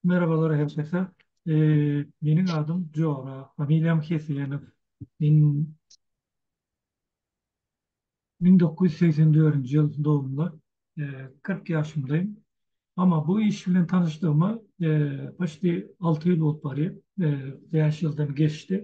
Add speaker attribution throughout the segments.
Speaker 1: Merhabalar herkese. Meniň adym Jora, familiýam Hesenow. Men müň dokuz ýüz segsen dördünji ýyl dogumly, kyrk ýaşymdaýyn. Amma bu iş bilen tanyşdygyma poçti alty ýyl bolup barýar, bäş ýyldan geçdi.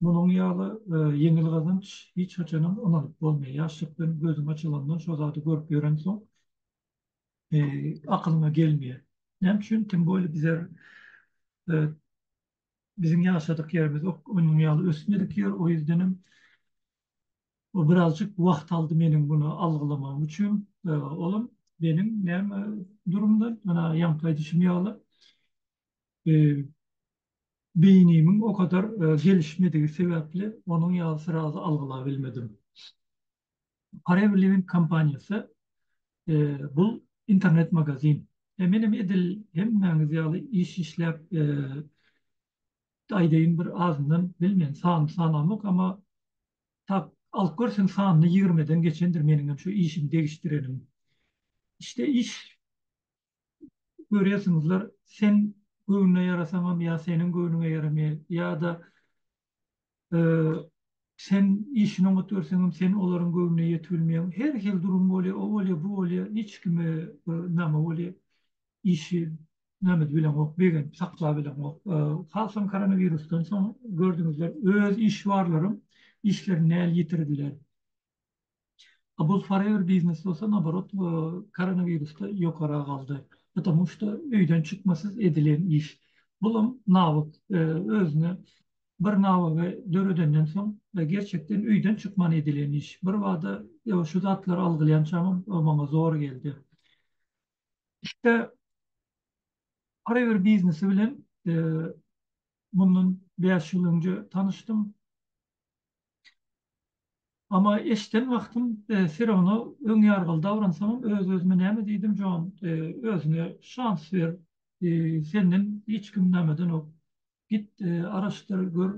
Speaker 1: Munuň ýaly ýeňil gazanç hiç haçanam ynanyp bolmaýar. Ýaşlykdan gözüň açylandan şo zady görüp ýörensoň akylyňa gelmeýär. Näme üçin? Tim bolýa bizler biziň ýaşadyk ýerimiz onuň ýaly ösmedik ýer. O ýüzdenem bu birazjyk wagt aldy meniň muny algylamagym üçin. Olam meniň näme durumdan ýaňky aýdyşym ýaly beýnimiň o kadar gelişmedigi sebäpli onuň ýaly frazy algylabilmedim. Forever Living kompaniýasy bul internet magazin. Menem edil hemmäňiz ýaly iş işläp aýdaýyn bir azyndan bilmen sanyny sanamok ama tap alyp görseň sanyny ýigrimeden geçendir meniňem şu işimi degişdirenim. İşde iş görýärsiňizler, sen göwnüne ýarasaňam ýa seniň göwnüňe ýaramaýar, ýa-da sen işini oňat görseňem sen olaryň göwnüne ýetip bilmeýäň. Her hili durum bolýar, o bolýar, bu bolýar, hiç kime name bolýar. Işi name edip bileňok, begenip saklap bileňok. Hasam koronawirusdan soň gördüňizler, öz işi barlaram işlerini näl ýitirdiler. A bul forever biznes bolsa naborot koronawirusda ýokara galdy. Patamu şda öýden çykmasyz edilen iş. Bulam nawuk özüne bir nawygy döredenden soň gerçekden öýden çykman edilen iş. Birbada şu zatlary algylýançamam maňa zor geldi. Şda forever biznesi bilen mundan bäş ýyl önje tanyşdym. Amma eşden wagtym Firawna öň ýargyly dawransamam öz-özüme näme diýdim, Jon, özüňe şans ber, senden hiç kim näme edenok, git araşdyr gör,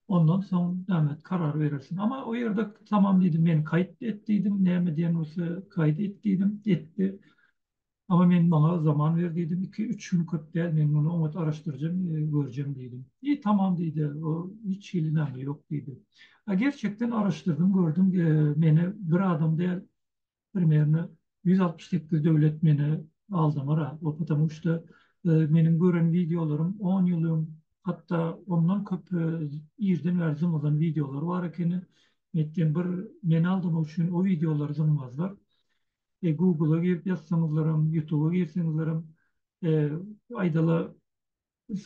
Speaker 1: ondan soň näme et, karar berersiň. Amma o ýerde tamam diýdim, men kaýt et diýdim, näme diýen bolsa kaýt et diýdim, etdi. Ama men maňa zaman ber diýdim, iki, üç gün köp däl, men muny oňat araşdyrjam, görjem diýdim. Eý, tamam diýdi, o hiç hili name ýok diýdi. A gerçekden araşdyrdym, gördüm, meni bir adam däl, primerno ýüz altmyş sekiz döwlet meni aldamara, o patamu şda meniň gören wideolarym on ýyl öň, hatda ondan köp irden bäri zyňylan wideolar bar ekeni, meýtgen bir meni aldamak üçin o wideolary zyňmazlar. e, Google-a girip ýazsaňyzlaram, YouTube-a girseňizlerem, e, aýdala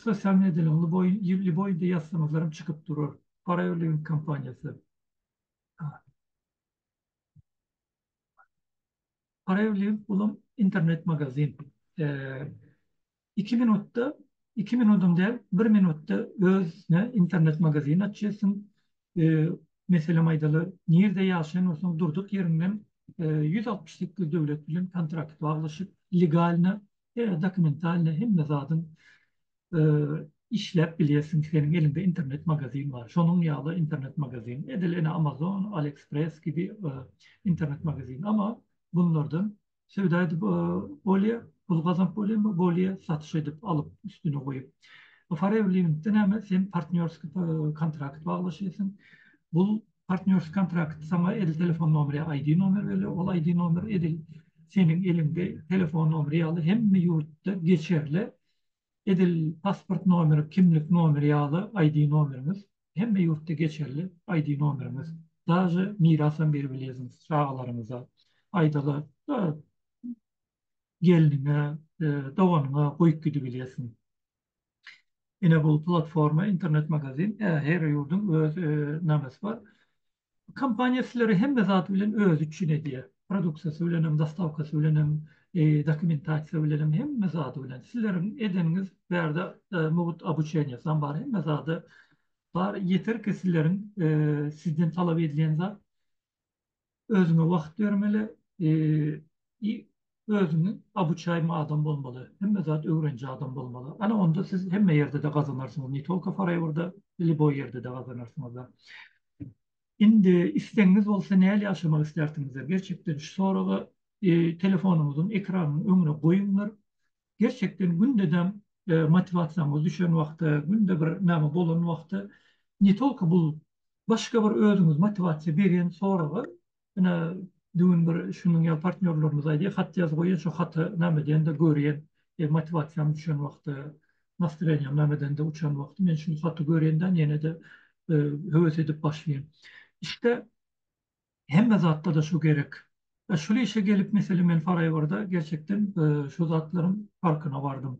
Speaker 1: sosial mediýanyň lüboý lüboýda ýazsaňyzlaram çykyp durar. Forever Living kompaniýasy. Forever Living bulam internet magazin. E, Iki minutda, iki minudam däl, bir minutda özüne internet magazin açýarsyň, meselem aýdaly, nirde ýaşaýan bolsaň durduk ýeriňden ýüz altmyş sekiz döwlet bilen kontrakt baglaşyp, legalno, dokumentalno hemme zadyň işläp bilýärsiň, seniň eliňde internet magazin bar. Şonuň ýaly internet magazin, edil ene Amazon, Aliexpress kibi internet magazin, emma bunlardan söwda edip bolýar, pul gazanyp bolýar, bolýar satyş edip alyp üstüne goýup. Farewilingde näme sen partnýorski kontrakt baglaşýarsyň. Bu partnýorski kontrakt saňa edil telefon nomeri, ID nomer berýär. Ol ID nomer edil seniň eliňde telefon nomeri ýaly hemme ýurtda geçerli Edil pasport nomeri, kimlik nomeri ýaly ID nomeriňiz, hemme ýurtda geçerli ID nomeriňiz. Daže mirasam berip bilýärsiňiz çagalaryňyza. Aýdaly, gelniňe, doganyňa goýup gidibilýärsiň. Ine bu platforma, internet-magazin, her ýurduň öz namesi bar. Kompaniýa sizlere hemme zat bilen özi üçin edýär. Produksiýasy bilenem, dostawkasy bilenem, dokumentasiýa bilenem, hemme zady bilen. Sizleriň edeniňiz bärde mugt obuçeniýasam bar, hemme zady bar. Ýeter ki sizleriň sizden talap edilen zat özüňe wagt bermeli, Özüňi obuçaýmy adam bolmaly, hemme zat öwreniji adam bolmaly. Ana onda siz hemme ýerde-de gazanarsyňyz, ne tolko Faraýewrda, liboý ýerde-de gazanarsyňyz-a. Indi islegiňiz bolsa näle ýaşamak istersiňizler? Gerçekden şu soragy telefonyňyzyň ekranynyň öňüne goýuňlar. Gerçekden gündedem motiwasiýaňyz düşen wagty, günde bir näme bolan wagty ne tolko bu başga bir özüňiz motiwasiýa beren soragy Ine, düwün bir şunuň ýaly partnýorlarymyz aýdýar, hat ýaz goýýar, şo hata name diýende görýän, e, motiwasiýam düşen wagty, nastreniýam name diýende uçan wagty men şul haty görýändan ýene-de, e, höwes edip başlaýan. Işde hemme zatda-da şu gerek. E, şul işe gelip, meselem, men Faraýewrda gerçekden, e, şu zatlaryň parkyna bardym.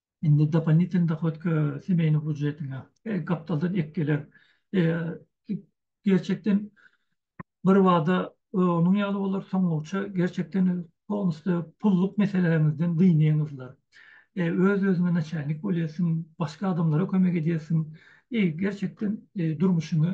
Speaker 1: Indi dopolinitelny dohod kö semeýniň býujetine gapdaldan ek geler. Gerçekden bir bada onuň ýaly bolar, soňlugyça gerçekden polnusda pulluk meseleleriňizden dynyňyzlar. Öz-özüňe naçalnik bolýarsyň, başga adamlara kömek edýärsiň. Gerçekden durmuşyňy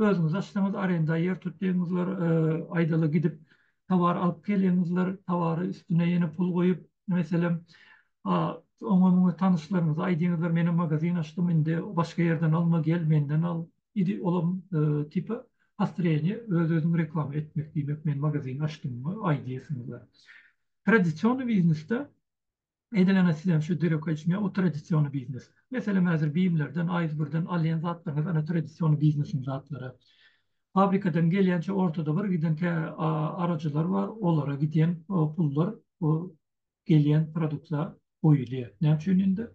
Speaker 1: özüňiz açsaňyz arenda ýer tutýaňyzlar, aýdaly gidip towar alyp gelýäňizler, towary üstüne ýene pul goýup, meselem, oňa-muňa tanyşlaryňyza aýdýaňyzlar, menem magazin açdym, indi başga ýerden alma, gel menden al. Idi olam tipa postreniýe, öz-özüňi reklama etmek diýmek, men magazin açdym aý diýesiňiz. Tradisionny biznesde Edilene sizem şu dereke içme o tradisiony biznes. Meselem hazir bimlerden aýz birden alýan zatlaryňyz ana tradisiony biznesiň zatlary. Fabrikadan gelýänçe ortada bir giden tä arajylar bar olara gidýän pullar bu gelýän produktlar goýulýar. Näme üçin indi?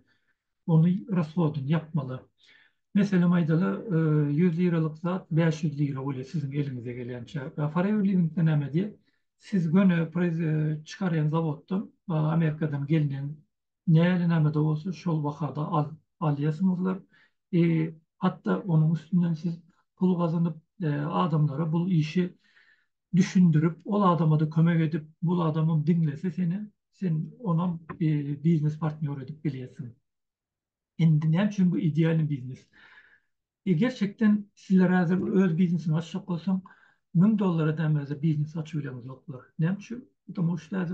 Speaker 1: ony rashodyny ýapmalar. Meselem aýdaly, ýüz liralyk zat bäş ýüz lira bolýar siziň eliňize gelýänçä. Forever Living-de näme diýýär? Siz göni çykarýan zawoddan, Amerikadan gelnen näle-näme-de bolsa şol bahada alýarsyňyzlar. Hatda onuň üstünden siz pul gazanyp, adamlara bu işi düşündirip ol adamada kömek edip bul adamam diňlese seni sen onam biznes partnýor edip bilýärsiň indi näme üçin bu idealny biznes e gerçekden sizler häzir öz biznesiňi açjak bolsaň müň dollara dämezde biznes açyp bileňiz ýoklar näme üçin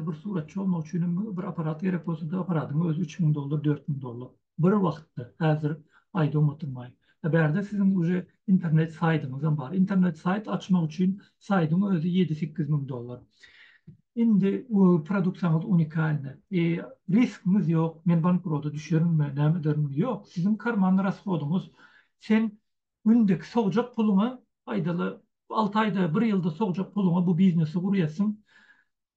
Speaker 1: bir suratçy bolmak üçinem bir aparat gerek bolsada aparadyň özi üç müň dollar dört müň dollar bir wagtda häzir aýdawm oturmaýyn. A bärde siziň uje internet saýdyňyzam bar. Internet saýt açmak üçin saýdyň özi ýedi-sekiz müň dollar. Indi we produksiýaňyz unikalny. E, riskiňiz ýok, men bankroda düşerinmi, näme ederin? Ýok, siziň karman rashodyňyz. Sen gündeki sogjak puluňa, aýdaly, alty aýda, bir ýylda sogjak puluňa bu biznesi gurýarsyň.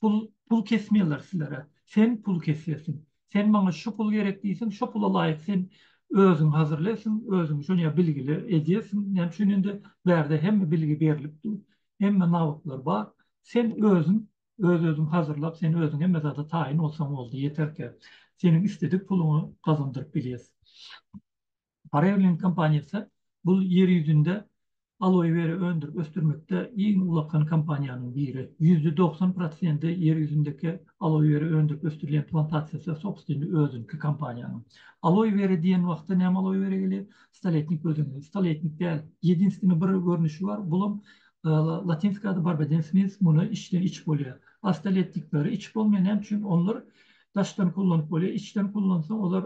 Speaker 1: Pul, pul kesmeýärler sizlere. Sen pul kesýärsiň. Sen maňa şu pul gerek diýseň, şo pula laýyk sen özüňi hazirleýärsiň, özüňi şonýa bilgili edýärsiň. Näme üçin indi bärde hemme bilgi berlip dur, hemme nawutlar bar. Sen özüň, öz-özüňi hazirlap, sen özüň hemme zada taýyn bolsaň boldy, ýeterkä. Seniň isledik puluňy gazandyryp bilýäs. Parerlink kompaniýasy bu ýer ýüzünde aloe vera öndürip ösdürmekde iň ulakan kompaniýanyň biri. Ýüzde dogsan prosendi ýer ýüzündeki aloe vera öndürip ösdürilýän plantasiýasy sobstweniý özüniňki kompaniýanyň. Aloe vera diýen wagtda näme aloe vera gelýär? Stoletnik göz öňüne. Stoletnik däl. Ýedinstwni bir görnüşi bar, bulam latynska ady barbadensis muny içden iç bolýar. A stoletnikleri içip bolmaýar näme üçin? Onlar Daşdan kullanyp bolýar, içden kullansaň olar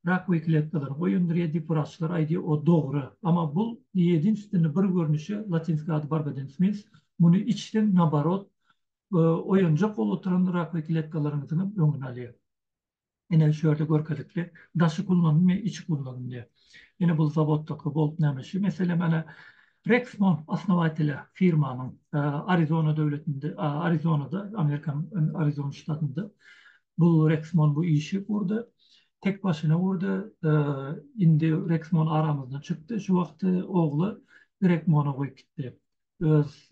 Speaker 1: rakowy kletkalar, goýundyr ýa-da wraçlar aýdýar o dogry. Amma bul ýedinstwni bir görnüşi, latynska ady Barbadentsmins, muny içseň naborot oýanjak bolup oturan rakowy kletkalaryňyzyňam öňüni alýar. Ine şu ýerde görkezikli daşy kullanylmaýar, içi kullanylýar. Ine bul zawoddaky bolt näme şu mesele mana Rexnor osnowatelýa firmanyň Arizona döwletinde, Arizonada, Amerikanyň Arizona ştatynda bu Rexnor bu işi gurdy. Tek başyna gurdy. Indi Rexnor aramyzdan çykdy. Şu wagt ogly Grekmona goýup gitdi. Öz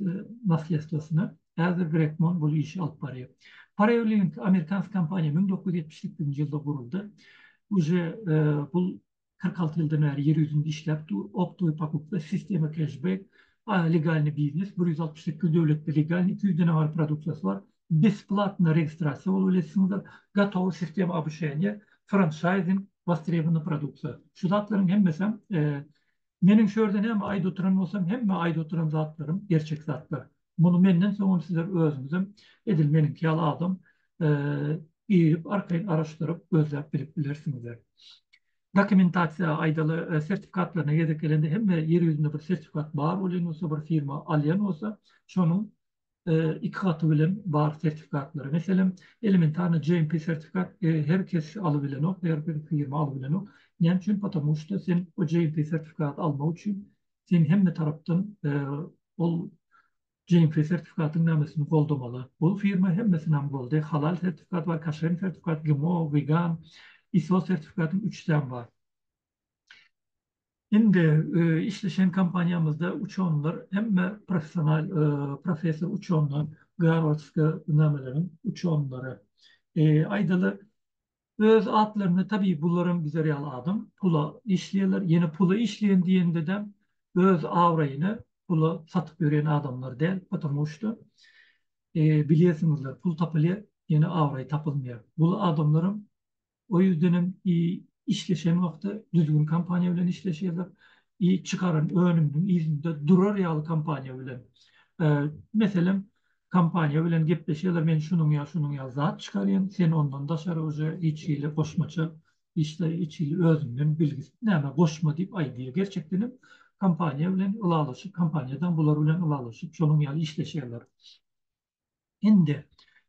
Speaker 1: naslýestwosyna. Häzir Grekmon bul işi alyp barýar. Parewlink amerikansk kompaniýa müň dokuz ýüz ýetmiş sekizinji ýylda guruldy. Uje bul kyrk alty ýyldan bäri ýer ýüzünde işläp dur, optowy pokupka, sistema keşbek, legalnyý biznes, bir ýüz altmyş sekiz döwletde legalnyý, iki ýüzden abar produksiýasy bar, besplatno registrasiýa bolup bilersizdir, gotowy sistema obuşeniýa, françaýzing, wostrebonnyý produksiýa. Şu zatlaryň hemmesem, meniň şu ýerde näme aýda oturan bolsam, hemme aýda oturan zatlarym gerçek zatlar. Muny menden soňam sizler özüňizem edil meniňki ýaly adam girip arkaýyn araşdyryp gözläp bilip bilersiňizler. Dokumentasiýa aýdaly sertifikatlaryna gezek gelende hemme ýer ýüzünde bir sertifikat bar bolýan bolsa bir firma alýan bolsa şonuň iki gaty bilen bar sertifikatlary meselem elementarny GMP sertifikat her kes alyp bilenok her bir firma alyp bilenok näme üçin potamuşda sen o GMP sertifikat almak üçin sen hemme tarapdan ol GMP sertifikatyň namesini goldamaly. Ol firma hemmesini hem goldaýar. Halal sertifikat bar, kaşer sertifikat, GMO, wegan, ISO sertifikatyň üçüsem bar. Indi işleşen kompaniýamyzda uçanlar hemme professional, professor uçanlar, Garwardska nameleriň uçanlary. Aýdaly, Öz atlarynda tabii bularam bizler ýaly adam pula işleýärler ýene pula işleýän diýendedem öz abraýyny pula satyp ýörýän adamlar däl potamuşda bilýärsiňizler pul tapylýar ýene abraý tapylmaýar bul adamlaram o ýüzdenem i işleşen wagty düzgün kompaniýa bilen işleşýärler i çykaran önüminiň yzynda durar ýaly kompaniýa bilen meselem Kompaniýa bilen gepleşýärler, men şunuň ýa şunuň ýaly zat çykarýan, sen ondan daşary uje hiç hili goşmaça işle, hiç hili özüňden bilgisiz näme goşma diýip aýdýar. Gerçekden hem kompaniýa bilen ylalaşyp, kompaniýadaň bular bilen ylalaşyp, şonuň ýaly işleşýärler. Indi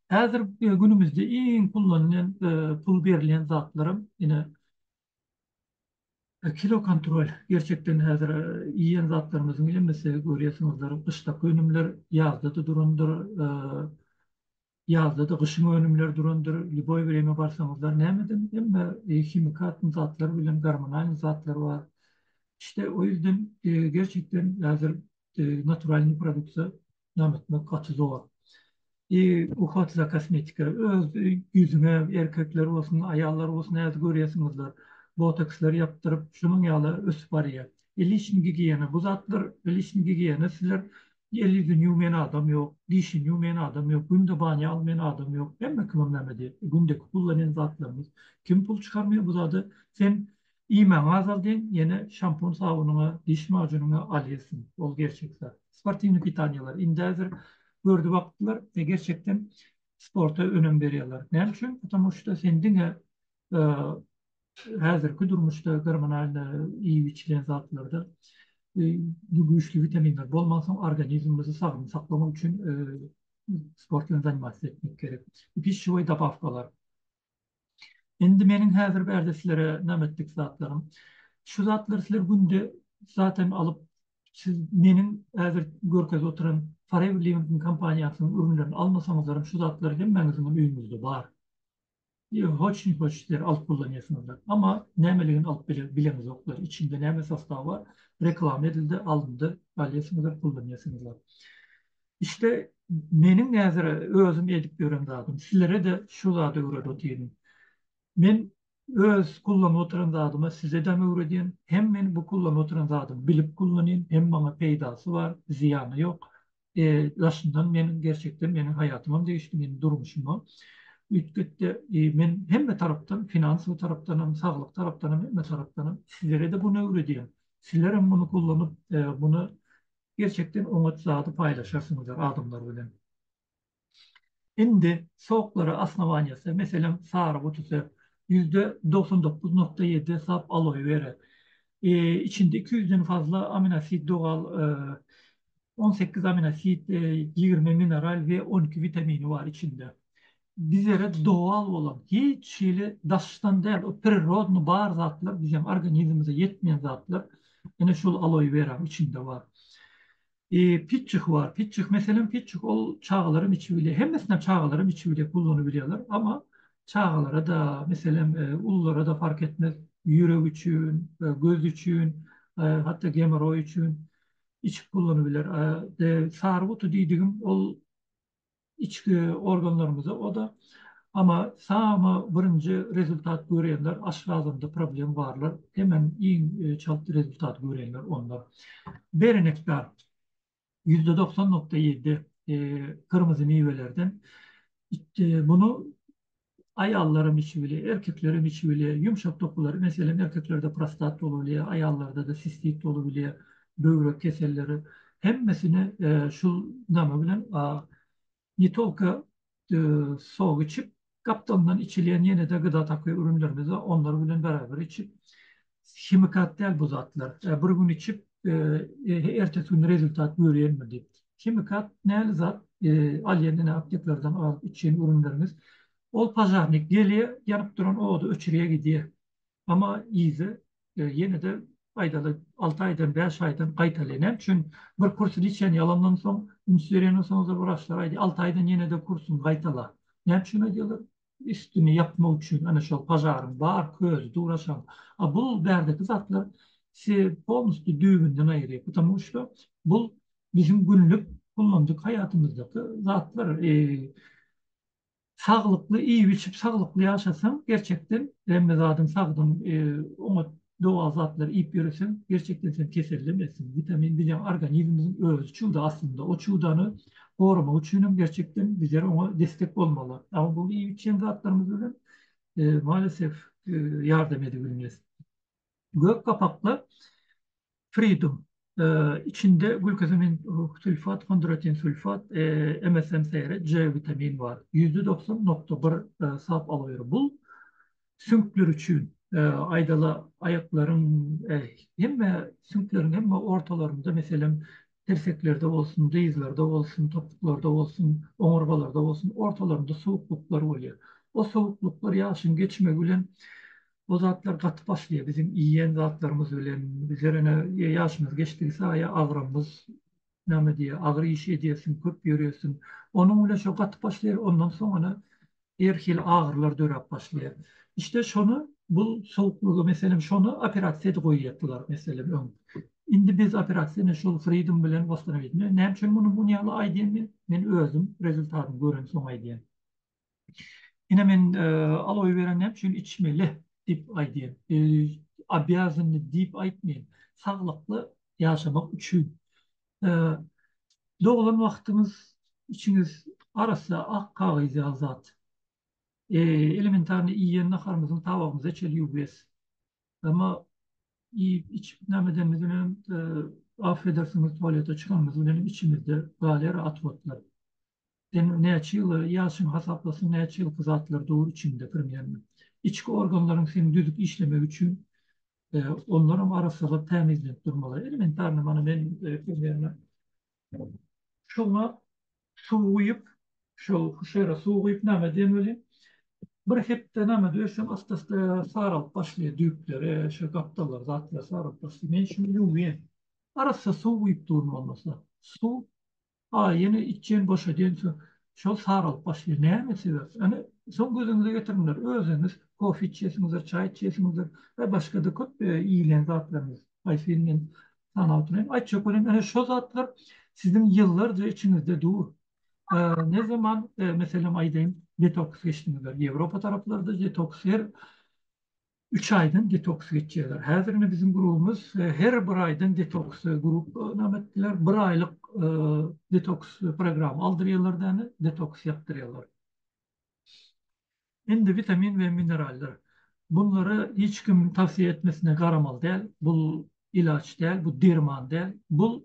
Speaker 1: häzir günümizde iň pullanýan, pul berilýän zatlaram ine Kilo kontrol gerçekden häzir iýen zatlarymyzyň hemmesi görýärsiňizdir gyşdaky önümler ýazda-da durandyr, ýazda-da gyşyň önümleri durandyr, lýuboý bir ýere barsaňyzlar nämeden hemme himikat zatlar bilen gormonal zatlar bar. İşde o ýüzden gerçekden häzir naturalnyý produksiýa nam etmek gaty zor. I uhod za kosmetika öz ýüzüňe erkekler bolsun, aýallar bolsun häzir görýäsiňizdir. Botokslar ýapdyryp, şunuň ýaly ösüp barýar. I liçni gigiýena bu zatlar, i liçni gigiýena sizler el-ýüzüni ýuwmaýan adam ýok, dişini ýuwmaýan adam ýok, günde banya almaýan adam ýok. Hemme kimem näme diýip, gündeki kullanýan zatlaryňyz. Kim pul çykarmaýar bu zada? Sen Iýmäňi azaldyň, ýene şampun sabunyňa, diş majunyňa alýarsyň. Ol gerçek zat. Sportiwnyý pitaniýalar indi häzir gördi wagtlar we gerçekden sporta önem berýärler. Näme üçin? Patamu şda sen diňe häzirki durmuşda gormonalnyý iýip-içilen zatlarda güýçli witaminler bolmansoň organizmimizi sagdyn saklamak üçin sport bilen zanimatsyz etmek gerek. Pişşewoý dabawkalar. Indi meniň häzir bärde sizlere nam etdik zatlarym. Şu zatlary sizler günde zaten alyp, siz meniň häzir görkezip oturan Forever Living-iň kompaniýasynyň ürünlerini almasaňyzlaram şu zatlar hemmäňiziňem öýüňizde bar. Ýöne hoş-ni-hoş sizler alyp kullanýarsyňyzlar. Amma nämeligini alyp bile, bileňizoklar. Içinde näme sostawy bar, reklama edildi, alyndy, alýarsyňyzlar, kullanýarsyňyzlar. İşte meniň häzir özüm edip ýören zadym. Sizlere-de şu zady öwredip otyryn. Men öz kullanyp oturan zadyma sizedem öwredýän. Hem men bu kullanyp oturan zadymy bilip kullanýan, hem maňa peýdasy bar, zyýany ýok. E, daşyndan meniň gerçekden meniň haýatymam degişdi, meniň durmuşymam üýtgetdi. E, men hemme tarapdan, finansowy tarapdanam, saglyk tarapdanam, hemme tarapdanam sizlere-de buny öwredýän. Sizlerem muny kullanyp, e, muny Gerçekden oňat zady paýlaşarsyňyzlar adamlar bilen. Indi soklara osnowaniýasy, meselem sary butuse ýüzde dogsan dokuz nokta ýedi desap aloe vera, içinde iki ýüzden fazla aminosid dogal, on sekiz aminosid, ýigrimi mineral we on iki witamini bar içinde. bizere dowal bolan, hiç hili daşdan däl, o prirodny bar zatlar, biziň organizmimize ýetmeýän zatlar, ine şol aloe weranyň içinde bar. Eee pitjik bar, pitjik, meselem pitjik ol çagalar hem içip bilýär, hemmesini hem çagalar hem içip bilýär, gullanyp bilýärler, amma çagalara-da, meselem ululara-da fark etmez, ýürek üçin, göz üçin, hatda gemoroý üçin içip gullanyp biler. Sary guty diýdigim ol içki organlarymyza oda ama samy birinji rezultat görýänler aşgazanda problem barlar hemen iň çalt rezultat görýänler onlar berenekdar ýüzde doksan nokta ýedi gyrmyzy miwelerden itde bunu Aýallaram içip bilýär, erkeklerem içip bilýär. Ýumşak dokular, meselem, erkeklerde prostat bolup bilýär, aýallarda-da sistit bolup bilýär, böwrek keselleri. Hemmesini şu name bilen, ne tolko sok içip, gapdalyndan içilýän ýene-de gyda takyr ürünlerimiz bar, onları bilen beraber içip, himikat däl bu zatlar. Bir gün içip, ertesi gün rezultat görýänmi diýip. Himikat näli zat? Alýan ine apteklerden alyp içýän ürünlerimiz. Ol pažarnik gelýär, ýanyp duran ody öçürýär gidýär. Emma yzy ýene-de aýdaly alty aýdan, bäş aýdan gaýtalýar. Näme üçin? Bir kursy içen ýalandan soň, üns berenden soň-da wraçlar aýdýar, alty aýdan ýene-de kursyňy gaýtala. Näme üçin aýdýarlar? üstüni ýapmak üçin ana şol pažaryň bar közi duraşan. A bu bärdeki zatlar sizi polnusty düýbünden aýyrýar. Putamu şda bu biziň günlük kullanjyk haýatymyzdaky zatlar. Saglykly iýip-içip, saglykly ýaşasaň, gerçekden hemme zadyň sagdyn oňat Doga zatlar iýip ýöreseň, gerçekden sen kesellem etsin. Witamin bizem organizmimiziň özi çuda aslynda. O çudany goramak üçin hem gerçekden bizler oňa destek bolmaly. Ama bu iýip içýän zatlarymyz bilen maalesef ýardam edibilmez. Gök gapakda Freedom, içinde gülkosamin sulfat, hondratin sulfat, MSM seýre C witamin bar. Ýüzde dogsan nokta bir sap aloe wera. Bul süňkler üçin, aýdala aýaklaryň hemme süňkleriň hemme ortalarynda meselem tirseklerde bolsun, dyzlarda bolsun, topuklarda bolsun, oňurgalarda bolsun ortalarynda sowuklyklar bolýar. O sowuklyklar ýaşyň geçmegi bilen bu zatlar gaty başlaýar biziň iýýän zatlarymyz bilen bizler ene ýaşymyz geçdigi saýa agramyz name diýýär agyr iş edýärsiň köp ýörýärsiň onuň bilen şo gaty başlaýar ondan soň ene her hili agyrylar döräp başlaýar işte şony bu sowuklygy meselem şony operasiýa edip goýýardylar meselem öň indi biz operasiýa ene şol freedom bilen wastanaýdym näme üçin muny muny ýaly aýdýan men men özüm rezultatyny görensoň aýdýan. Ine men aloe vera näme üçin içmeli diýip aýdýar. Obýazanny diýip aýtmaýar. Saglykly ýaşamak üçin. Doglan wagtyňyz içiňiz arassa ak kagyz ýaly zat. Elementarny iýen naharymyzyň tabagymyza çenli ýuwbes. Emma iýip içip näme edenimiz bilen affedersiňiz tualete çykanymyz bilen içimizde galýar at otlar. Sen näçe ýyl ýaşyňy hasaplasyn näçe ýylky zatlar dur içiňde primernno. Içki organlaryň seň düzüp işlemegi üçin onlaram arassalap tämizlenip durmaly. Elementarno mana men primernno şoňa suw guýup şol huşera suw guýup name diýen welin bir hepde name döwsem ast-ast saralyp başlaýar düýpleri şo gapdallar zatlar saralyp başlaýar. Men şuny ýuwýan. Arassa suw guýup duryn bolmasa. Suw A ýene içýen boşadýan soň şol saralyp başlaýar. Näme sebäp? Ene soň gözüňize getiriňler özüňiz kofe içýesiňizdir, çaý içýesiňizdir we başga-da köp iýilýän zatlaryňyz. Haýsy birini men sanap oturayyn? Aý çökeleň ene şo zatlar siziň ýyllarja içiňizde dur. Ne zaman meselem aýdaýyn detoks geçdiňizler? Ýewropa taraplarda detoks her Üç aýdan detoks geçýärler. Häzir ine biziň grubumyz her bir aýdan detoks grup name etdiler. Bir aýlyk detoks programma aldyrýarlar däne, detoks ýapdyrýarlar. Indi witamin we minerallar. Bunlary hiç kim towsiýe etmesine garamaly däl. Bu ilaç däl, bu derman däl. Bu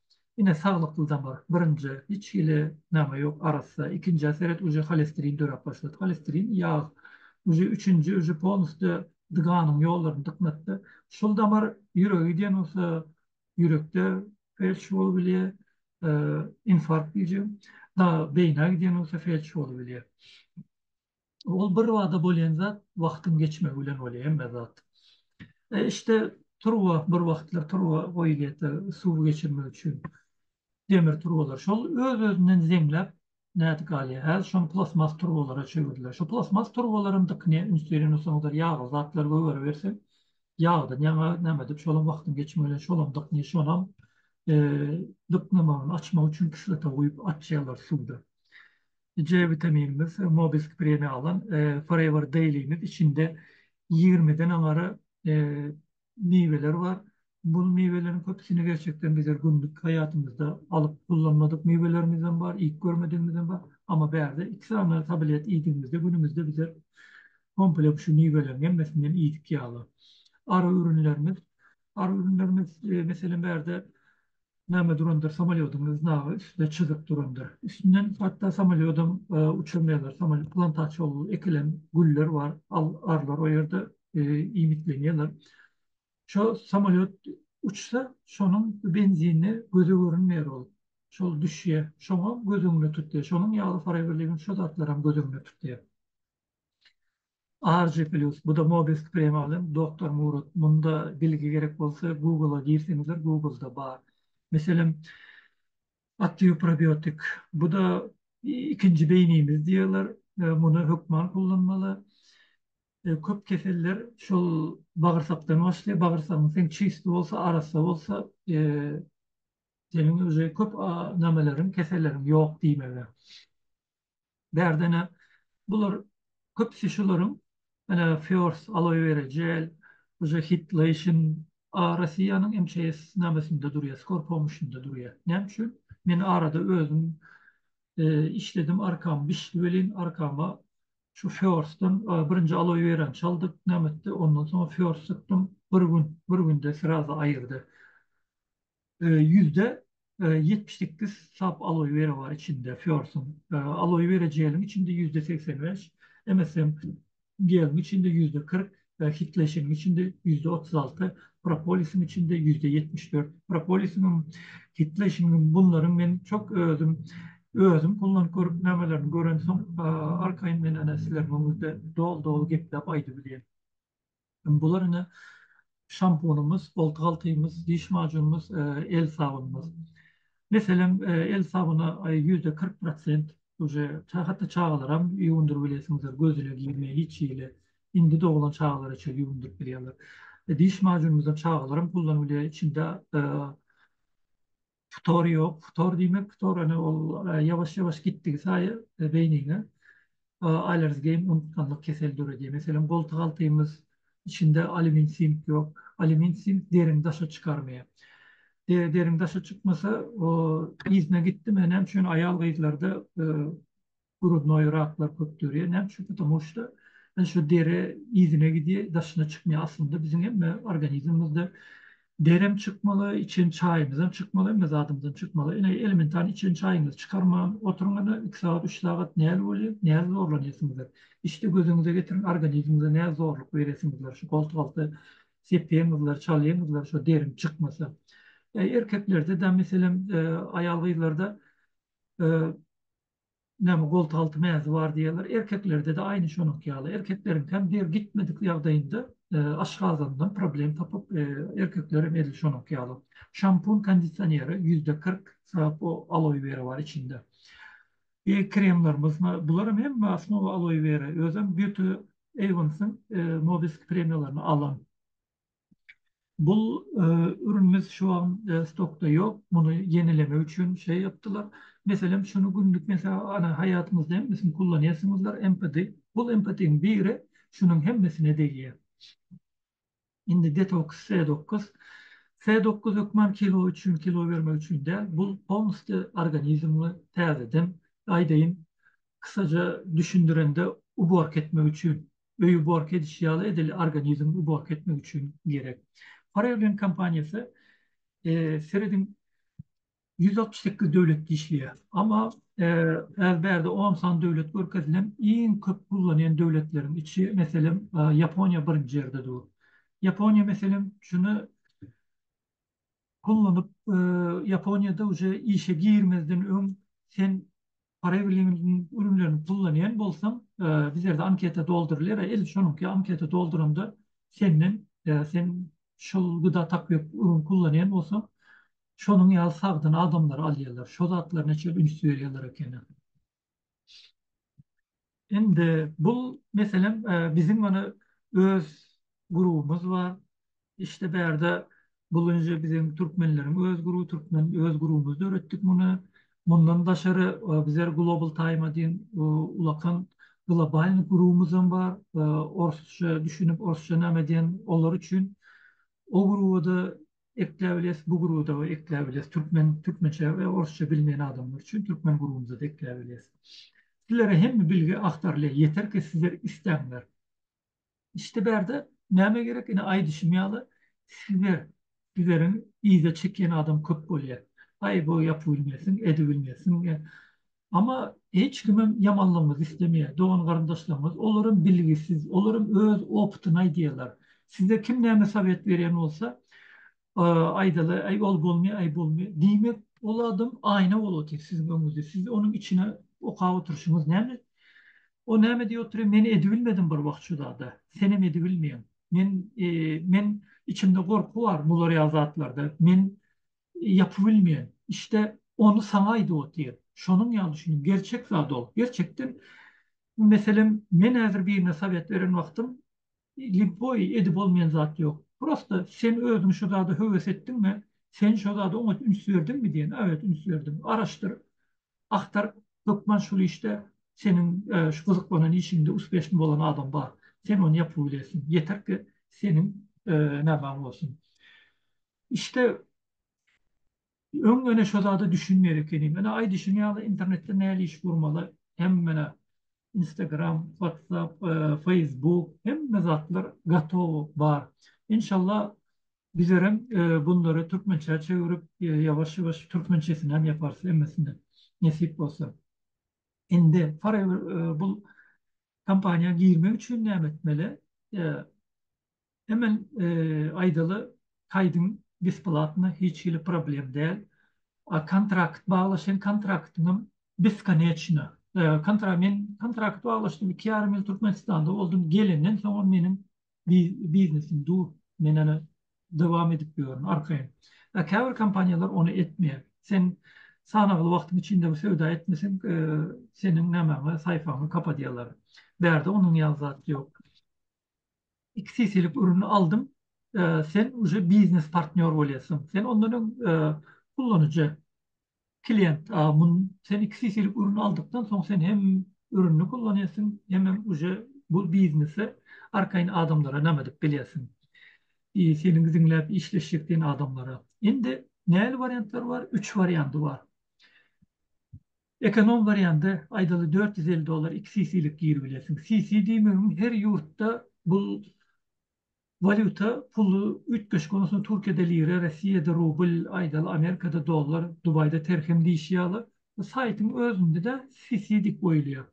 Speaker 1: Ine saglykly damar birinjä hiç hili name ýok arassa ikinjä seret uje holesterin döräp başlady holesterin ýag uje üçünji uje polnusde dganyň ýollaryny dyknatdy şul damar ýüregi diýen bolsa ýürekde felç bolup bilýä infarkt diýjegim da beýnä gidýän bolsa felç bolup bilýä. Ol birbada bolýan zat wagtyň geçmegi bilen bolýar hemme zat. Işde turba bir wagtlar turba goýulýarda suwy geçirmek üçin demir turbalar. Şol öz-özünden zeňläp nädip galýar. Häzir şony plastmas turbalara çevirdiler. Şu plastmas turbalaryň dykyny üns beren bolsaňyzlar ýagly zatlar gögeribersin. Ýagdan ýaňa näme edip şolam wagtyň geçmegi bilen şolam dykyny şonam dyknamagyny açmak üçin kislota guýup açýarlar suwda. C witaminimiz, Nobel premiýa alan Forever Daily-miz içinde ýigrimiden aňary miweler bar. Bu miweleriň köpüsini gerçekden bizler günlük haýatymyzda alyp ullanmadyk miwelerimizem bar, iýip görmedigimizem bar. Amma bärde iki sany tablet iýdigimizde günümizde bizler komplek şu miweleriň hemmesinem iýdik ýaly. Ary ürünlerimiz, ary ürünlerimiz meselem bärde Name durandyr samolýodyň znagy üstde çyzyk durandyr. Üstünden hatda samolýodam uçurmaýarlar. Samolýot plantaçy ol ekilen güller bar. Al arlar o ýerde iýmitlenýärler. Şo samolýot uçsa şonuň benzinine göze görünmeýär ol. Şol düşýär. Şoňa göz öňüne tutýar. Şonuň ýaly horewerligim şo zatlaram göz öňüne tutýar. RG Plus, bu-da Mobisk Premalyň, Doktor Murat, munda bilgi gerek bolsa Google-a girseňizler, Google-da bar. Meselem, Active Probiotic, bu-da ikinji beýnimiz diýýärler, muny hökman ullanmaly. Köp keseller şol bagyrsakdan başlaýar, bagyrsagyň seň çysty bolsa, arassa bolsa, seniň uje köp nämeleriň, keselleriň ýok diýmegi. Bärde-ne bular köpüsi şularyň menä First Aloe Vera Gel, Uja Hit Lotion, a Rossiýanyň MCS namesinde durýar, Skor Pomuşynda durýar. Näme üçin? Men arada özüm işledim, arkam bişdi welin, arkama şu First-den birinji Aloe Werany çaldyk, näme etdi, ondan soň First sypdym, bir gün, bir günde srazy aýyrdy. Ýüzde ýetmiş sekiz sap aloe wera bar içinde Fiorsuň. Aloe wera jeliň içinde ýüzde segsen bäş, MSM geliň içinde ýüzde kyrk, Hydlation-yň içinde ýüzde otuz alty, Propolis-iň içinde ýüzde ýetmiş dört. Propolis-iňem, Hydlation-yňam bunlaryň men çok özüm özüm ullanyp görüp namelerini görensoň arkaýyn men ene sizleriň öňüňizde doly doly gepläp aýdybilýän. Bular ine şampunymyz, oltyghaltymyz, diş majunymyz, el sabunymyz. Meselem, el sabyna ýüzde kyrk prosent uje hatda çagalaram ýuwundyryp bilesiňizler, göz ile girmeýär hiç hili. Indi doglan çagalara çenli ýuwundyryp bilýärler. Diş majunymyzam çagalaram gullanyp bilýär, içinde Futor ýok. Futor diýmek, futor ýöne ol ýawaş-ýawaş gitdigi saýy beýniňe Alergem unutganlyk keseli döredýär. Meselem, goltugaltymyz içinde alýumin sink ýok. Alýumin sink derini daşa çykarmaýar. Deriň daşa çykmasa, o yzyna gitdi. Menem şuny aýal-gyzlarda Grudnoý raklar köp dörýär. Näme üçin? Patamu şda biz şu deri yzyna gidýär, daşyna çykmaýar. Aslynda biziň hemme organizmimizde derem çykmaly, içen çaýymyzam çykmaly, hemme zadymyzam çykmaly. Ine, elementarny içen çaýyňyzy çykarman oturyňyz-da, iki sagat, üç sagat näl bolýar? Näl zorlanýarsyňyzlar? Hiç-de gözüňize getiriň, organizmiňize näl zorluk berýärsiňizler? Şu goltugalta sepýäňizler, çalýaňyzlar, şo deriň çykmasa. Erkeklerde-de, meselem, aýal-gyzlarda Näme goltalty mäzi bar diýýärler. Erkeklerde-de aýny şonuňky ýaly. Erkekleriňkem der gitmedik ýagdaýynda aşgazandan problem tapyp, erkeklerem edil şonuňky ýaly. Şampun kondisioneri ýüzde kyrk syrap o aloe wera bar içinde. E kremlerimiz bularam hemme osnowa aloe wera. Özem Beauty Avens-iň Nobisk premiýalaryny alan. Bul ürünimiz şu an stokda ýok. Muny ýenilemek üçin şeý ýapdylar. Meselem şuny günlük meselem haýatymyzda hemmesini kullanýarsyňyzlar empati. Bul empatiň biri şunuň hemmesine degýär. Indi detoks S dokuz. S dokuz hökman kilo üçin kilo bermek üçin däl. Bul polnusty organizmi täzeden aýdaýyn kysaja düşündirende uborka etmek üçin. öýi uborka edişi ýaly edil organizmi uborka etmek üçin gerek. Farewlin kompaniýasy serediň ýüz altmyş sekiz döwletde işleýär. Amma häzir bärde on sany döwlet görkezilen iň köp gullanýan döwletleriň içi meselem Ýaponiýa birinji ýerde dur. Ýaponiýa meselem şuny gullanyp Ýaponiýada uje işe girmezden öň sen Para biliminiň ürünlerini kullanýan bolsaň, bizlerde anketa doldurylýar we edil şonuňky anketa dolduranda senden sen şol güda tapýak ürün kullanýan bolsaň, şonuň ýaly sagdyn adamlary alýarlar. Şo zatlaryna çenli üns berýärler ekeni. Indi bu meselem biziň mana öz grubumyz bar. Işte bärde bulunje biziň türkmenleriň öz gruby, türkmen öz grubumyz döretdik muny. Mundan daşary bizler Global Time diýen ulakan globalny grubumyz hem bar. Orsça düşünip, orsça näme diýen olar üçin o gruba-da Ekläp biles bu guruda we ekläp biles türkmen türkmençe we orsça bilmeýän adamlar üçin türkmen gurumyzada ekläp biles. Sizlere hemme bilgi agtarylýar ýeter ki sizler istäňler. İşte bärde näme gerek ine aýdyşym ýaly sizler sizleriň yza çekýän adam köp bolýar. Aý bu ýapybilmesin, edibilmesin, Amma hiç kimem ýamanlygymyzy islemeýär. Dogan-garyndaşlarymyz, olaram bilgisiz, olaram öz opytyny aýdýarlar. Size kim näme sowet berýän bolsa, aýdaly, Äý, ol bolmy, äý, bolmy? Diýmek, ol adam aýna bolup otyr siziň öňüňizde. Siz onuň içine okap oturyşyňyz näme? O näme diýip otyr, Men edibilmedim bir wagt şu zada. Senem edibilmeýäň. Men, men içimde gorky bar bular ýaly zatlarda. Men ýapybilmeýän. İşde ony saňa aýdyp otyr. Şonuň ýaly düşünip, gerçek zat ol. Gerçekden, meselem, men häzir birine sowet beren wagtym, lýuboý edip bolmaýan zat ýok. Prosta sen özüň şu zada höwes etdiňmi, sen şo zada oňat üns berdiňmi diýen. Äwet, üns berdim. Araşdyr, agtar, hökman şul işde seniň şu gyzyklanan işiňde uspeşni bolan adam bar. Sen ony ýapybilersiň. Ýeter ki, seniň nämaň bolsun. İşte öň mene şo zada düşünmeýär ekenim. Mene aý düşünen ýaly internetde näli iş gurmaly hem mene Instagram, WhatsApp, Facebook hemme zatlar gatow bar. Enşallah bizerem bunlary türkmençä çevirip ýawaş ýawaş türkmençesinem ýaparys hemmesini nesip bolsa. Indi Forever bul kompaniýa girmek üçin näme etmeli? Hemen aýdaly kaýdyň besplatna hiç hili problem däl. A kontrakt baglaşan kontraktyňam beskoneçna. Kontra men kontrakt baglaşdym iki ýarym ýyl Türkmenistanda boldum gelenden soňam meniň biznesim dur men ene dowam edip ýörün arkaýyn. A käbir kompaniýalar ony etmeýär. Sen sanagly wagtyň içinde bu söwda etmeseň seniň nämäňi saýpaňy kapadýarlar. Bärde onuň ýaly zat ýok. iki sesilik ürüni aldym, sen uje biznes partnýor bolýarsyň. Sen ondan öň ullanyjy, klient, sen iki sesilik ürüni aldykdan soň sen hem ürüni kullanýarsyň, hemem uje bu biznesi arkaýyn adamlara näme edip bilýärsiň. Seniň diňläp işleşjek diýen adamlara. Indi nähili wariantlar bar? Üç wariandy bar. Ekonom wariandy aýdaly dört ýüz elli dollar iki CC-lik gir bilersiň. CC diýmegim her ýurtda bul walýuta puly üýtgeşik ondan soň Türkiýede lira, Rossiýada rubl, aýdaly Amerikada dollar, Dubaýda terhem diýşi ýaly. Bu saýtyň özündede CC diýip goýulýar.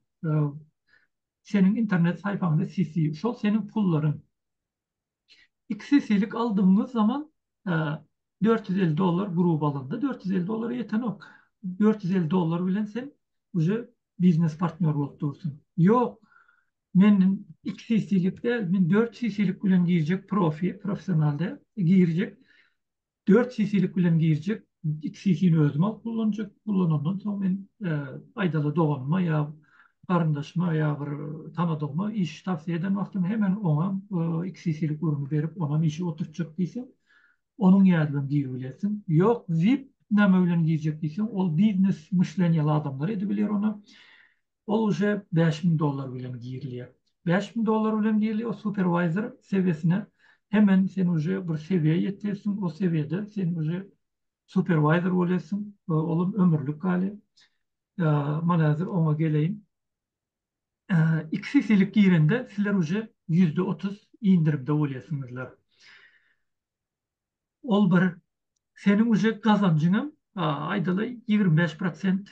Speaker 1: Seniň internet saýpaňda CC, şol seniň pullaryň. Iki sesilik aldygyňyz zaman dört ýüz elli dollar gruba alanda dört ýüz elli dollara ýetenok. Dört ýüz elli dollar bilen sen uje biznes partnýor bolup dursuň. Ýok, men iki sesilik däl, men dört sesilik bilen girjek profi, professional däl, girjek. Dört sisilik bilen girjek, iki sisini özüm alyp gullanjak, gullanandan soň men aýdaly doganyma ýa garyndaşyma ýa bir tanadygyma iş towsiýe eden wagtym hemen oňa iki sisilik urunu berip onam işi oturtjak diýseň onuň ýadydan giribilersiň, ýok vip näme bilen girjek diýseň ol biznes myşleniýaly adamlar edibiler ony, Ol uje bäş müň dollar bilen girilýär. Bäş müň dollar bilen girli o superwayzer sewiýesine hemen sen uje bir sewiýä ýetýärsiň, o sewiýede sen uje superwayzer bolýarsyň, olam ömürlik gali. Mana häzir oňa geleýin. Iki sesilik girende sizler uje ýüzde otuz indirimde bolýarsyňyzlar. Ol bir seniň uje gazanjyň hem aýdaly ýigrimi bäş prosent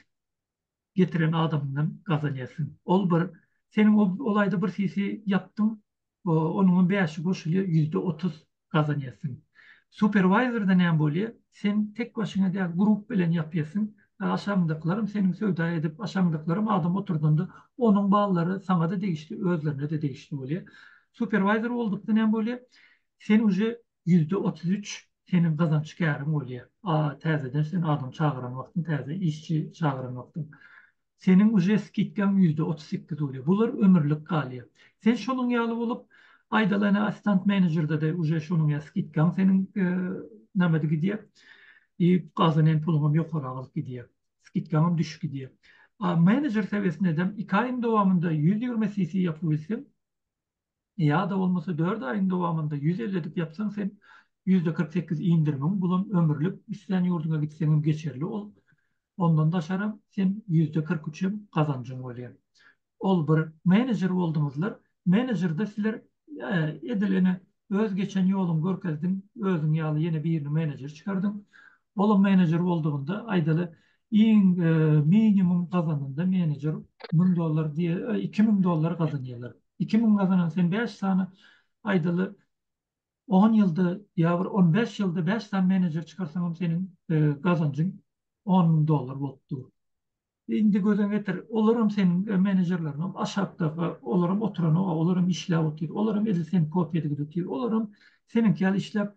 Speaker 1: getiren adamyňdan gazanýarsyň. Ol bir, seniň ol aýda bir sisi ýapdyň, onuňam bäşi goşulýar, ýüzde otuz gazanýarsyň. Superwaýzerda näme bolýar, sen tek başyňa däl, grup bilen ýapýarsyň, aşagyňdakylaram seniň söwda edip, aşagyňdakylaram adam oturdanda, onuň ballary saňa-da degişli, özlerine-de degişli bolýar. Superwaýzer boldukda näme bolýar, sen uje ýüzde otuz üç seniň gazanç käriň bolýar. A täzeden sen adam çagyran wagtyň täze işçi çagyran wagtyň. Seniň uje skidkaň ýüzde otuz sekiz bolýar. Bular ömürlik galýar. Sen şonuň ýaly bolup aýdalyna assistant menejerdede uje şonuň ýaly skidkaň seniň namedy gidýär. I gazanan puluňam ýokary galyp gidýär. Skidkaňam düşüp gidýär. A menejer sewesindem iki aýyň dowamynda ýüz ýigrimi CC ýapyp bilseň, Ýa-da bolmasa dört aýyň dowamynda ýüz elli edip ýapsaň sen ýüzde kyrk sekiz indirimiň bulan ömürlik islän ýurdyňa gitseňem geçerli ol ondan daşaram sen ýüzde kyrk üçem gazanjyň bolýa ol bir menejer boldyňyzlar menejerde sizler edil ene öz geçen ýoluň görkezdiň özüň ýaly ýene birini menejer çykardyň olam menejer boldugynda aýdaly iň minimum gazananda menejer müň dollar diýe iki müň dollar gazanýarlar. iki müň gazanan sen bäş sany aýdaly on ýylda ýa bir on bäş ýylda bäş sany menejer çykarsaňam seniň gazanjyň on müň dollar bolup dur indi gözüň getir olaram seniň menejerleriňem aşakda olaram oturanok olaram işläp otyr olaram edil sen kopiýada gidip otyr olaram seniňki ýaly işläp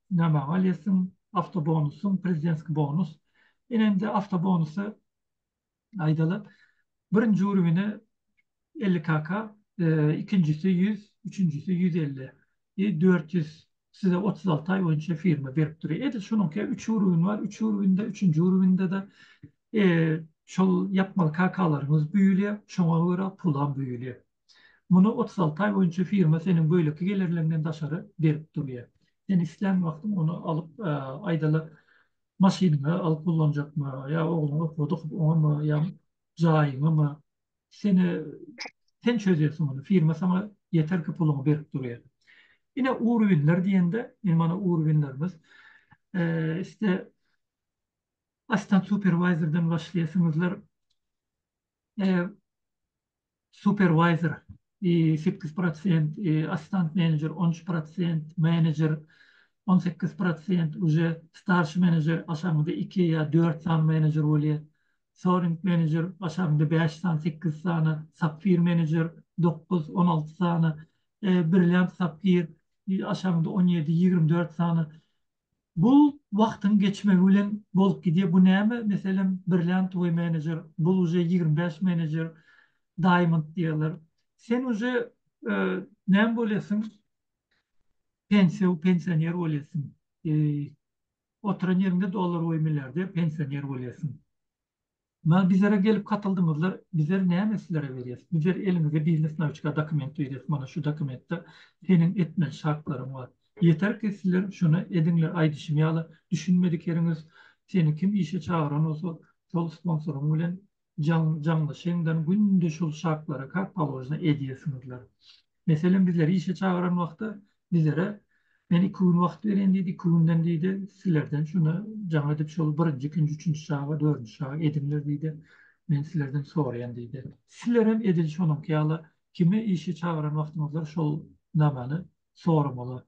Speaker 1: Näme amal etsin, awtobonusyň, prezidentskiý bonus. Ine-indi awtobonusy aýdaly, birinji urwini elli KK, ikinjisi ýüz, üçünjisi ýüz elli, i dört ýüz size otuz alty aý boýunça firma berip dur. Edil şunuňka üç urwin bar, üç urwinde, üçünji urwinde-de şol ýapmaly KK-laryňyz büýülýär, şoňa görä pulam büýülýär. Muny otuz alty aý boýunça firma seniň beýleki gelirleňden daşary berip durýar. Sen islän wagtyň ony alyp, aýdaly, maşynyňa alyp ullanjakmy, ýa ogluň okuwda okup oňamy, ýa jaýyňamy, seni, sen çözýärsiň muny, firma saňa ýeterki puluňy berip durýar. Ine, urwinler diýende, indi mana urwinlerimiz, iste assistent superwizerden başlaýarsyňyzlar, superwayzer, sekiz prosent, assistant menejer, on üç prosent, menejer, on sekiz prosent, uje starşi menejer, aşagyňda iki ýa dört sany menejer bolýar, soring menejer, aşagyňda bäş sany, sekiz sany, sapfir menejer, dokuz, on alty sany, brilliant sapfir, aşagyňda on ýedi, ýigrimi dört sany, Bu wagtyň geçmegi bilen bolup gidýär. Bu näme meselem bir lent we menejer bul uje ýigrimi bäş menejer daýmond diýerler. Sen uje näme bolýasyň pensiýa pensioner bolýasyň. Oturan ýeriňde dollar we milliarder pensioner bolýasyň. Bar bizere gelip katyldyňyzlar bizer näme sizere berýäs bizer eliňize biznes nawiçka dokument berýäs mana şu dokumentde seniň etmeli şartlaryň bar ýeter ki sizler şuny ediňler aýdyşym ýaly düşünmedik ýeriňiz seni kim işe çagyran bolsa şol sponsoryň bilen jaň jaňlaşyňdan günde şol şartlary kak polojna edýärsiňizler Meselem bizleri işe çagyran wagty bizlere men iki gün wagt berýän diýdi, iki günden diýdi sizlerden şunda jaň edip şol birinji, ikinji, üçünji şaby, dördünji şaby ediňler diýdi. Men sizlerden soraýan diýdi. Sizlerem edil şonuňky ýaly kimi işe çagyran wagtyňyzda şol namany soramaly.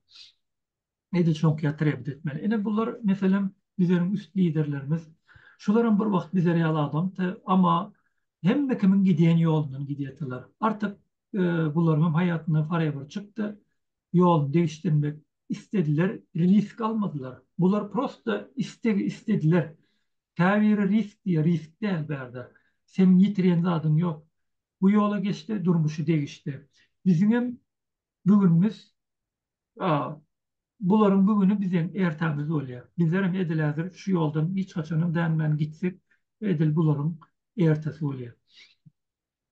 Speaker 1: Nede çonkyýa trebit etmeli. Ine bular meselem bizeriň üst liderlerimiz. Şularam bir wagt bizler ýaly adamdy. Amma hemme kimiň gidýän ýolundan gidýärdiler. Artyk bularyňam haýatyndan forever çykdy. Ýoluny degişdirmek istediler, risk almadylar. Bular prosta istegi istediler. Käbiri risk diýýär, risk däl bärde. Seniň ýitirýän zadyň ýok. Bu ýola geçdi, durmuşy degişdi. Biziňem Bu günümiz a bularyň bu güni biziň ertemiz bolýar. Bizlerem edil häzir şu ýoldan hiç haçanam dänmän gitsek, edil bularyň ertesi bolýar.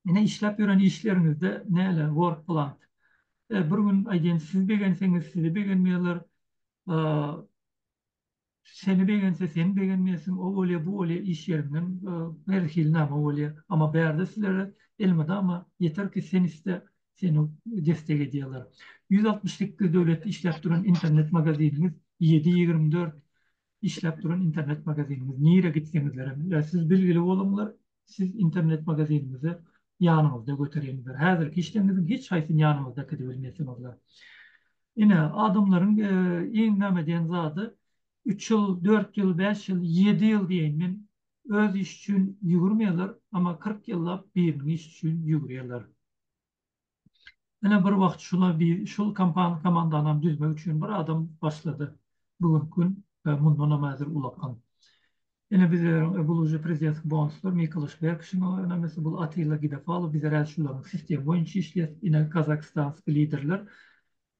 Speaker 1: Ine işläp ýören işleriňizde näle work plant. E bir gün aýdýan siz begenseňiz sizi begenmeýärler. A Seni begense seni begenmeýäsiň o bolýa bu bolýa iş ýerinden her hili nama bolýa ama bärde sizlere elmydama ýeter ki sen iste seni destek edýaler ýüz altmyş sekiz döwletde işläp duran internet magaziniňiz ýedi ýigrimi dört işläp duran internet magaziniňiz nire gitseňizlerem siz bilgili boluňlar Siz internet magazinimizi ýanyňyzda götereniňizdir. Häzirki işleriňiziň hiç haýsyny ýanyňyzda äkidip bilmeýsiňizdir. Ine, adamlaryň iň näme diýen zady, üç ýyl, dört ýyl, bäş ýyl, ýedi ýyl diýeýin men, öz işi üçin ýügürmeýärler, emma kyrk ýyllap biriniň işi üçin ýügürýärler. Ine bir wagt şuna bi şul kompan komandanam düzmek üçin bir adam başlady. Bu günki gün we mundanam häzir ulakam. Ine bizleriň e bul uje prezidentski bonuslar Mikola Şwerkşiň o önemlisi bul Atilla Gidafalow bizler häzir şularyň sistemi boýunça işleýäs. Ine kazakistanski liderler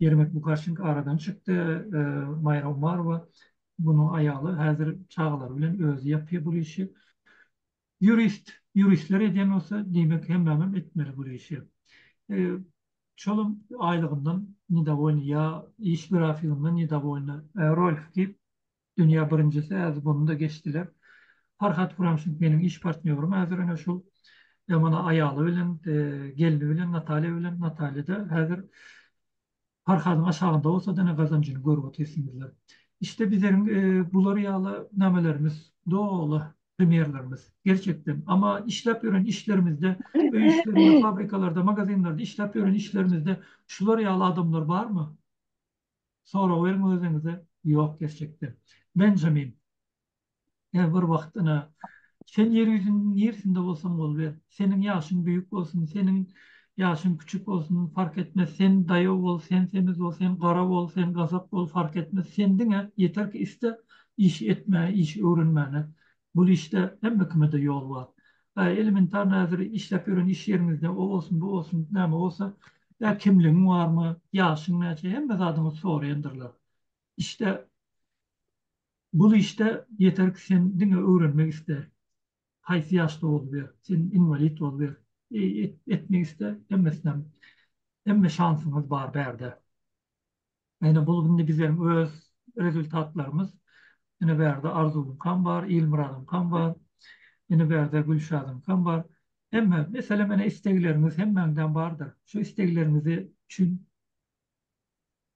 Speaker 1: Ýermek Bukaşenko aradan çykdy. E Maýra Umarowa munuň aýaly häzir çagalary bilen özi ýapýar bul işi. Ýurist, ýuristler edýän bolsa, diýmek hemmämem etmeli bul işi. Şolam aýlygyndan nedawoýny ýa iş grafigyndan nedawoýny. Rolf diýip, dünýä birinjisi äz buny-da geçdiler. Farhat Kuramşin meniň iş partnýorym häzir ine şul. Emana aýaly bilen, gelni bilen, Natalýa bilen. Natalýa-da häzir Parhadyň aşagynda bolsa dine gazanjyny görüp otyrsynzlar. İşte bizleriň bular ýaly namelerimiz doly premýerlerimiz gerçekden. Amma işläp ýören işlerimizde, öý işlerinde, fabrikalarda, magazinlerde işläp ýören işlerimizde şular ýaly adamlar barmy? Sorag beriň özüňize, ýok gerçekden. Benjamin. Ýa bir wagt ina, sen ýer ýüzüniň niresinde bolsaň boluber. Seniň ýaşyň büýük bolsun, seniň ýaşyň küçük bolsun, park etmez, sen daýaw bol, sen semiz bol, sen gara bol, sen gazak bol, fark etmez, sen diňe ýeter ki iste, iş etmäge, iş öwrenmäne. Bul işde hemme kime-de ýol bar. Ä, elementarny häzir işläp ýören iş ýeriňizde o bolsun, bu bolsun, näme bolsa, ä kimligiň barmy, ýaşyň näçe, hemme zadyňyzy soraýandyrlar. Işde Bul işde ýeterki sen diňe öwrenmek iste. Haýsy ýaşda boluber, sen inwalid boluber, etmek iste, hemmesinem, hemme şansyňyz bar bärde. Ene bul indi bizem öz rezultatlarymyz. Ene bärde Arzuwyňkam bar, Ilmyradyňkam bar. Ene bärde Gülşadyňkam bar. Hemme, meselem ene istegleriňiz hemmäňdäm bardyr. Şu istegleriňizi üçin.